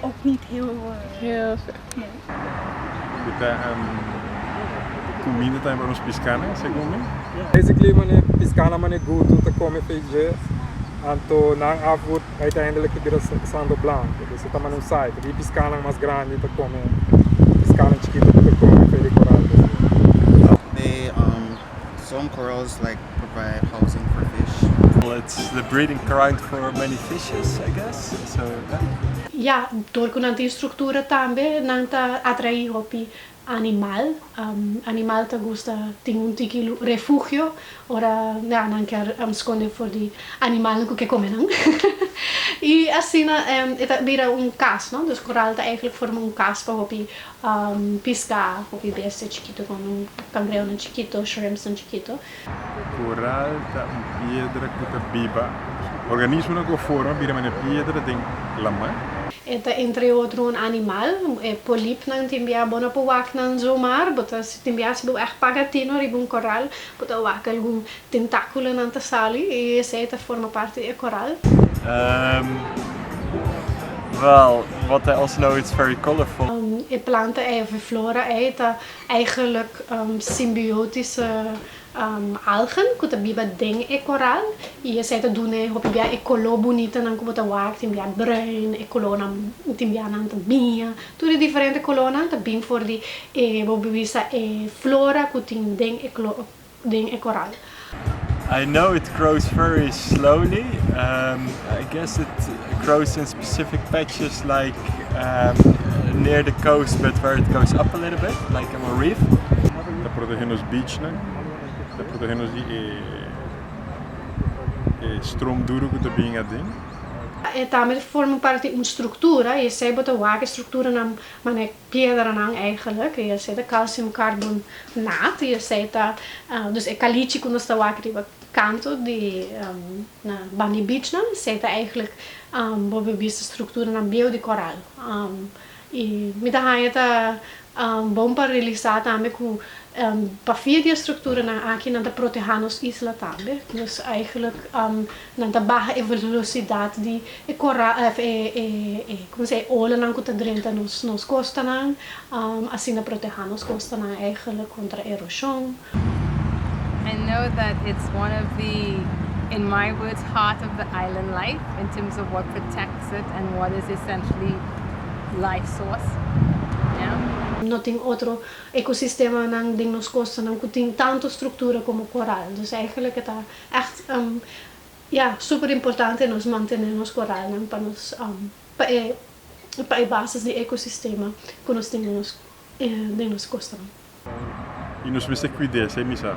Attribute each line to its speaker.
Speaker 1: Ook niet
Speaker 2: heel Comida tambe pa nos piscanan, segun mi. Basically mane
Speaker 3: piscanan mane gutu ta come feij anto nan afgoed uiteindelijk ta bira sando blanco dus e ta mane un cycle di piscanan mas grandi ta come piscanan chikito no ta come feij di coral.
Speaker 4: Some corals like provide housing for fish. It's the
Speaker 5: breeding ground for many fishes I guess so yeah. Ya,
Speaker 6: dor cu nan tin structura tambe nan ta atraí hopi animal. Animal ta gusta tin un tiki refugio ora ya nan ker sconde for di animalnan cu ke come nan. Y asina e ta bira un cas, no? Dus coral ta eigenlijk forma un cas pa hopi. Piská ku ki bestia chikito ku andan, kangreonan chikito, shrimpsnan chikito. Koral
Speaker 2: ta un piedra ku ta biba organismonan ku a forma bira manera piedra den lamar. E ta entre
Speaker 6: otro un animal. E polipnan tin bia bo na bo wak nan zoomar bo ta si tin bia si bo bai paga tino riba un koral bo ta wak algun Tentákulonan ta sali i esei ta forma parti di e koral. Ehm,
Speaker 5: wèl, wòt e also know it's very colorful. E planta ei òf e
Speaker 6: flora ei ta eigelik simbiotische algen ku ta biba den e koral i esei ta dun'e hopi bia e koló bunitanan ku bo ta wak, tin bia bruin, e kolónan tin bianan ta biña, tur e diferente kolónan ta bin for di e bo bisa e flora ku tin den e. den e koral. I
Speaker 5: know it grows very slowly I guess it grows in specific patches like near the coast but where it goes up a little bit like in a reef. Ta protege
Speaker 2: nos beachnan, ta protege nos di e strom duru ku ta bin aden. E tambe
Speaker 6: ta forma parti un struktura i esei bo ta wak e strukturanan manera Piederanan eigenlijk, y esey ta calcium carbonate, y esey ta dus e calichi cu nos ta wak riba canto di na ban di beachnan, esey ta eigenlijk bo bo bisto structuranan bieu di coral, y mi ta haya ta bon pa realisa tambe cu pa fia di e structuranan aki nan ta proteha nos isla tambe, dus eigenlijk Nan ta baha e velosidat di e kora òf e e como se e olanan ku ta drenta nos nos kostanan asina protehá nos kostanan eigenlijk kontra eroshon.
Speaker 1: I know that it's one of the in my words heart of the island life in terms of what protects it and what is essentially life source yeah. No tin
Speaker 6: otro ekosistemanan den nos kostanan ku tin tantu struktura komo koral, dus eigenlijk e ta. Echt ya super importante nos mantene nos coralnan pa nos pa e pa e basis di ecosistema cu nos tin den nos den nos cosnan. Y
Speaker 2: nos mester cuide esey misa.